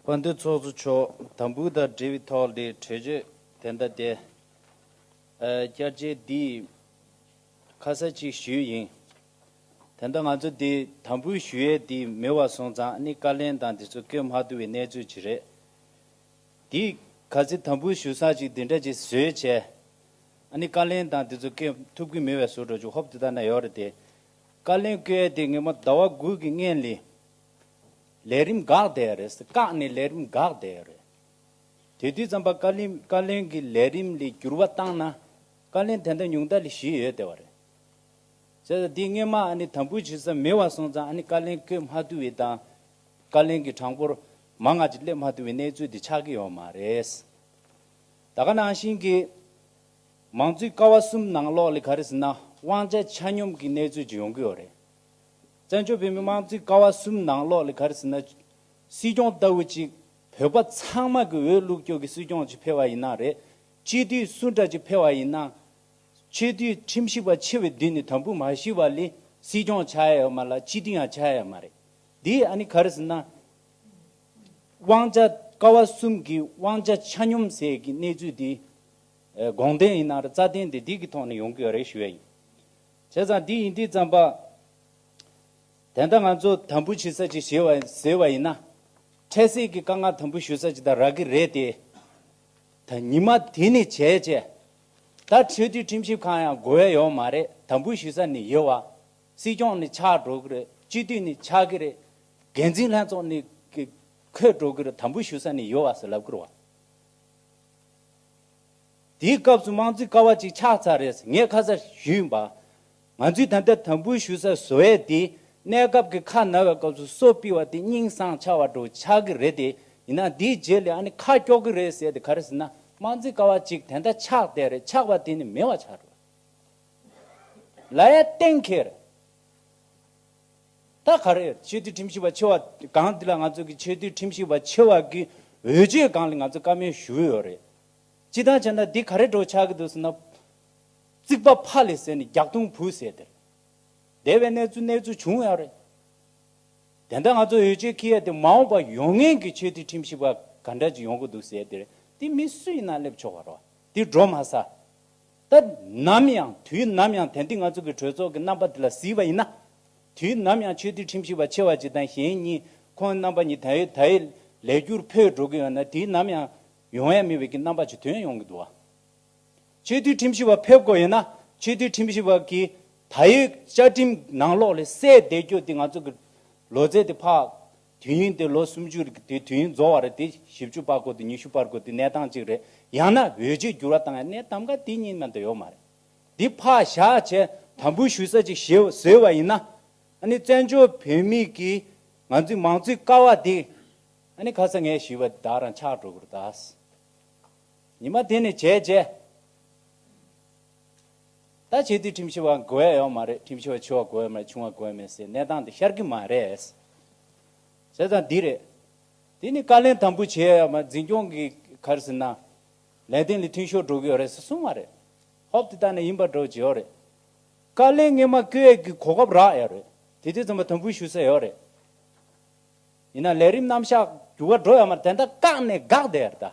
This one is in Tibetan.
བ་འདུ་ཚོགས་གཙོ་མཆོག་དམ་འབུལ་དང་འབྲེལ་བའི་ཐོག་ལས་གྲོས་ཆོད་དེ་མདའ་དེད་བསྐྱར་བཅད་བསྡུས་ཁ་གསལ་ཅིག་ཞུས་ཡིན། དེ་མདའ་ང་ཚོ་འདི་དམ་འབུལ་ཞུ་ཡས་འདི་མི་བ་སོང་ཙང་ནི་བཀའ་ལན་དང་འདི་ཚོ་བཀོད་མ་ཐུབ་བའི་གནས་ཚུལ་ཅིག་རེད། འདིས་ག་ཚེ་དམ་འབུལ་ཞུ་སང་ཅིག་འདི་འདྲ་ཅིག་བཟོས་བྱས་ནི་བཀའ་ལན་དང་འདི་ཚོ་བཀོད་ཐུབ་ཀི་མི་བས་ཟུར་འགྲོ་ཅིག་ཧོབ་དེ་དག་ན་ཡོད་རེད་དེ། བཀའ་བློན་བཀའི་དེ་ངེད་མོ་ཟླ་བ་དགུ་གི་སྔན་ལས་ལས་རིམ་འགག་བསྡད་ཡ་རེད་ཟེར་བཀག་ནས་ལས་རིམ་འགག་བསྡད་ཡ་རེད། དེ་དུས་ཙམ་པ་བཀའ་བླིན་བཀའ་བློན་གི་ལས་རིམ་ལས་འགྱུར་བ་བཏང་ན་བཀའ་བློན་དེ་འདྲ་ཉུང་མཐའ་ལས་ཞི་ཡོད་བསྡད་བ་རེད། བྱས་ཙང་འདི་སྔན་མ་ཨ་ནི་དམ་འབུལ་བྱེད་ས་མེད་བ་སོང་ཙང་ཨ་ནི་བཀའ་བློན་བཀོད་མ་ཐུབ་བའི་དང་བཀའ་བློན་གི་གྲངས་འབོར་མང་ང་ཅིག་སླེབས་མ་ཐུབ་བའི་གནས་ཚུལ་དེ་ཆགས་ཀྱི་ཡོད་མ་རེད། ད་ག་ནང་བཞིན་གྱི། མང་གཙོའི་ཀ་བ་གསུམ་ནང་ལོགས་ལས་ག་རེ་ཟིན་ན་དབང་ཆ་ཆ་སྙོམས་ཀྱི་གནས་ཚུལ་ཅིག་ཡོང་གི་ཡོད་རེད། བཙན་བྱོལ་བོད་མིའི་དམངས་གཙོའི་ཀ་བ་གསུམ་ནང་ལོགས་ལས་ག་རེ་ཟིན་ན། སྲིད་སྐྱོང་ལྟ་བུ་གཅིག་བོད་པ་ཚང་མ་གི་འོས་བླུགས་སྐྱོག་གི་སྲིད་སྐྱོང་ཅིག་འཕེལ་བ་ཡིན་ན་རེད། སྤྱི་འཐུས་སུ་འདྲ་ཅིག་འཕེལ་བ་ཡིན་ན། ཆོས་འཐུས་ཁྲིམས་ཞིབ་པ་ཆེ་བའི་དུས་ནས་དམ་འབུལ་མ་ཞུས་པ་ལས་སྲིད་སྐྱོང་བྱ་ཡ་ཡོད་མ་ལ་སྤྱི་འཐུས་ཡང་བྱ་ཡ་ཡོད་མ་རེད། འདིས་ཨ་ནི་ག་རེ་ཟིན་ན། དབང་ཆ་ཀ་བ་གསུམ་གི་དབང་ཆ་ཆ་སྙོམས་ཟེར་གི་གནས་ཚུལ་དེ། དགོངས་དོན་ཡིན་ན་རྩ་དོན་དེ་སྡིག་གི་ཐོག་ནས་ཡོང་གི་ཡོད་རེད་ཞུ་ཡ་ཡིན། བྱས་ཙང་སྡིག་ཡིན་སྡིག་ཙམ་པ། དེ་འདྲ་ང་ཚོ་དམ་འབུལ་བྱེད་ས་ཅིག་བྱེད་བ་ཟེར་བ་ཡིན་ན། འཕྲལ་སེལ་གྱི་དཀའ་ངལ་དམ་འབུལ་ཞུ་ས་ཅིག་དང་རག་གི་རེད་དེ། ད་ཉི་མ་དེ་ནས་བྱས་རྗེས། ད་ཆོས་དུས་ཁྲིམས་ཞིབ་ཁང་ཡང་དགོས་ཡ་ཡོད་མ་རེད་དམ་འབུལ་ཞུ་ས་ནས་ཡོད་བ། སྲིད་སྐྱོང་ནས་ཆགས་འགྲོ་གི་རེད་སྤྱི་འཐུས་ནས་ཆགས་གི་རེད། འགན་འཛིན་ལྷན་ཚོགས་ནས་འཁོད་འགྲོ་གི་རེད་དམ་འབུལ་ཞུ་ས་ནས་ཡོད་བ་ཟེར་ལབ་གི་རེད་བ། དེའི་སྐབས་སུ་དམངས་གཙོའི་ཀ་བ་ཅིག་ཆགས་ཚར་རེད་ངས་ཁ་གསལ་ཞུས་ཡིན་པ། ང་ཚོས་ད་ལྟ་དམ་འབུལ་ཞུ་སར་བཟོ་ཡས་དེ་གནས་སྐབས་ཀྱི་ཁ་ན་བའི་སྐབས་སུ་གསོ་སྤི་བ་དེ་སྙིང་བཟང་ཆགས་བ་འགྲོ་ཆགས་ཀྱི་རེད་དེ་ཡིན་ན་དེའི་རྗེས་ལས་ཨ་ནི་ཁ་ཀྱོག་གི་རེད་ཟེར་དེ་ག་རེ་ཟེར་ན་དམངས་གཙོའི་ཀ་བ་ཅིག་དེ་འདྲ་ཆགས་བསྡད་རེད་ཆགས་པ་དེ་ནི་མེད་བ་ཆགས་རེད། ལ་ཡ་གཏན་འཁེལ་རེད། ད་ག་རེ། ཆོས་རྡུལ་ཁྲིམས་ཞིབ་པ་ཆེ་བ་སྒང་འདི་ལ་ང་ཚོ་གི་ཆོས་རྡུལ་ཁྲིམས་ཞིབ་པ་ཆེ་བ་གི་འོས་ཆོས་སྒང་ལ་ང་ཚོ་བཀའ་མོལ་ཞུ་འོས་ཡོད་རེད། སྤྱི་ལྟང་བྱས་ན་འདི་ག་རེ་འགྲོ་ཆགས་གི་འདུག་ཟེར་ན། རྩིག་པ་ཕ་ལས་ཟེར་ནས་རྒྱག་རྡུང་བུ་ཟེར་དེར་བསྡད་པའི་གནས་ཚུལ་གནས་ཚུལ་བྱུང་ཡོད་རེད། དེ་འདྲ་ང་ཚོ་འོས་ཆོས་ཁེ་ཡས་དེ་མ་འོངས་པ་ཡོང་ངེས་ཀྱི་ཆོས་རྡུལ་ཁྲིམས་ཞིབ་པ་ག་འདྲ་ཅིག་ཡོང་གི་འདུག་ཟེར་དེར་དེ་མི་སུ་ཡིན་ན་སླེབས་ཆོག་པ་རེད། འདི་འགྲོ་མ་ས། སྐབས་ནམ་ཡང་དུས་ནམ་ཡང་དན་ཏིག་ལྔ་ཚོགས་ཀྱི་གྲོས་ཚོགས་ཀྱི་རྣམ་པ་དེ་ལ་གཟིགས་པ་ཡིན་ན། དུས་ནམ་ཡང་ཆོས་འདུལ་ཁྲིམས་ཞིབ་པ་ཆེ་བ་གཅིག་དང་གཞན་གཉིས་ཁོང་རྣམ་པ་གཉིས་དེའི་དེའི་ལས་འཁྱུར་འཕོས་འགྲོ་གི་ཡོད་ན་དུས་ནམ་ཡང་ཡོང་ཡ་མིན་པའི་གི་རྣམ་པ་ཆུ་དོན་ཡོང་གི་འདུག་བ། ཆོས་འདུལ་ཁྲིམས་ཞིབ་པ་ཕེབས་དགོས་ཡོད་ན་ཆོས་འདུལ་ཁྲིམས་ཞིབ་པ་གི་དའི་བཅའ་ཁྲིམས་ནང་ལོགས་ལས་གསལ་བསྡད་རྒྱུ་དེ་ང་ཚོ་གི་ལོ་ཙེ་དེ་ཕག་དུས་ཡུན་དེ་ལོ་སུམ་ཅུ་རེད་དེ་དུས་ཡུན་རྫོགས་བར་དེ་བཞི་བཅུ་པག་གོ་དེ་ཉི་ཤུ་པར་གོ་དེ་གནས་སྟངས་གཅིག་རེད་ཡང་ན་འོས་ཆོས་འགྱུར་བ་དང་ཡང་གནས་ཐམ་ག་དེ་གཉིས་མན་དུ་ཡོད་མ་རེད་དེ་ཕག་བཞག་བྱས་དམ་འབུལ་ཞུ་ས་ཅིག་བཟོས་བ་ཡིན་ན་ཨ་ནི་བཙན་བྱོལ་བོད་མི་གིས་ང་ཚོའི་མང་གཙོའི་ཀ་བ་དེ་ཨ་ནི་ཁ་ས་ངས་ཞུས་པ་དེ་བདག་རང་ཆགས་འགྲོ་གི་རེད་ད། ཉི་མ་དེ་ནས་བྱས་རྗེས། ད་བྱས་དུས་ཁྲིམས་ཞིབ་བ་འགོ་ཡ་ཡོད་མ་རེད་ཁྲིམས་ཞིབ་བ་ཆུང་བ་འགོ་ཡོད་མ་རེད་ཆུང་བ་འགོ་ཡ་མེད་སའི་གནས་སྟངས་དེ་ཤར་གི་མ་རེད། བྱས་ཙང་འདི་རེད། དེ་ནི་བཀའ་ལན་དམ་པོ་བྱས་ཡོད་མ་རེད་འཛིན་སྐྱོང་གི་གར་ཟིན་ན། ལས་དོན་ལས་ཐུན་ཤོར་འགྲོ་གི་ཡོད་རེད་ས་གསུངས་མ་རེད། ཧོབ་དེ་དག་ནས་ཡིན་པ་འགྲོ་བྱས་ཡོད་རེད། བཀའ་ལན་ངེས་མ་བསྐྱོད་ཡས་ཀི་གོ་སྐབས་རག་ཡོད་རེད། དེ་དུས་རྩོམ་པ་དམ་པོ་ཞུ་ས་ཡོད་རེད། ཡིན་ན་ལས་རིམ་རྣམ་བཞག་འགྱུར་བ་འགྲོ་ཡོད་མ་རེད་དེ་འདྲ་བཀག་ནས་དགག་བསྡད་ད།